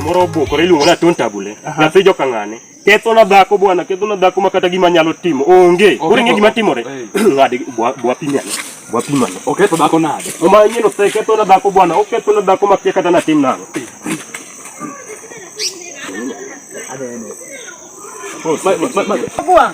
moro obukore iluongo ni atontabule nyathi joka ng'ane ketho na dhako bwana ketho na dhako makata gima nyalo timo onge koro ing'e gima timore ng'ade bwapimane bwapimane oketho dhako nade oma inyieno se ketho na dhako bwana oketho na dhako makia kata natim nang'o Bwana.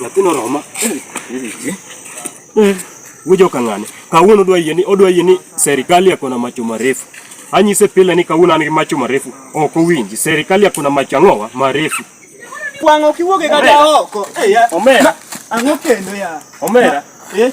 Nyathino roma. Eh, Wujo kang'ane. Kawuono odwa yie ni odwa yie ni serikali yako na macho marefu. Anyise pile ni kawuono an gi macho marefu. Ok owinji. Serikali yako na macho ang'owa marefu. Wang'o kiwuoge kata oko. Omera. Ang'o kendo ya? Omera. Eh?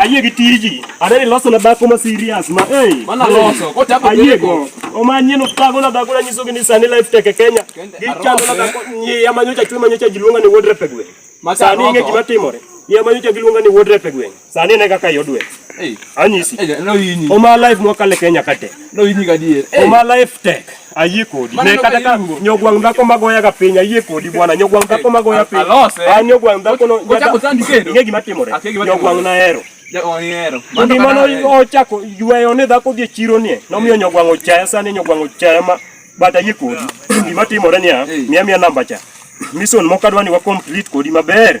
Ayie gi tiji. Adani loso na dhako ma serious ma. Mana loso. Kote hapo ayie go. Omanye no tago na dhako na nyiso gi ni sani life teke Kenya. Gichalo na dhako ni ya manyocha chwe manyocha jiluonga ni wodre pegwe. Sani inge gima timore. Ya manyocha giluonga ni wodre pegwe. Sani ne kaka yodwe. Hey. Anyisi. Hey, no yinyi. Oma life mwakale Kenya kate. No yinyi gadier. Hey. Oma life tech. Ayie kodi. Ne kata ka nyogwang dhako magoya ga piny ayie kodi bwana. Nyogwang dhako magoya piny. Alose. Eh. Ah nyogwang dhako no. Ocha kotandi kendo. Ngegi matimore. Ah, nyogwang na hero. Ndi mano ochako yweyo ne dhako dhi chiro nie. Nomiyo nyogwang ochaya sani nyogwang ochaya ma bata ayie kodi. Gima timore niya, miya miya namba cha. Mission mokadwani wa complete kodi maber.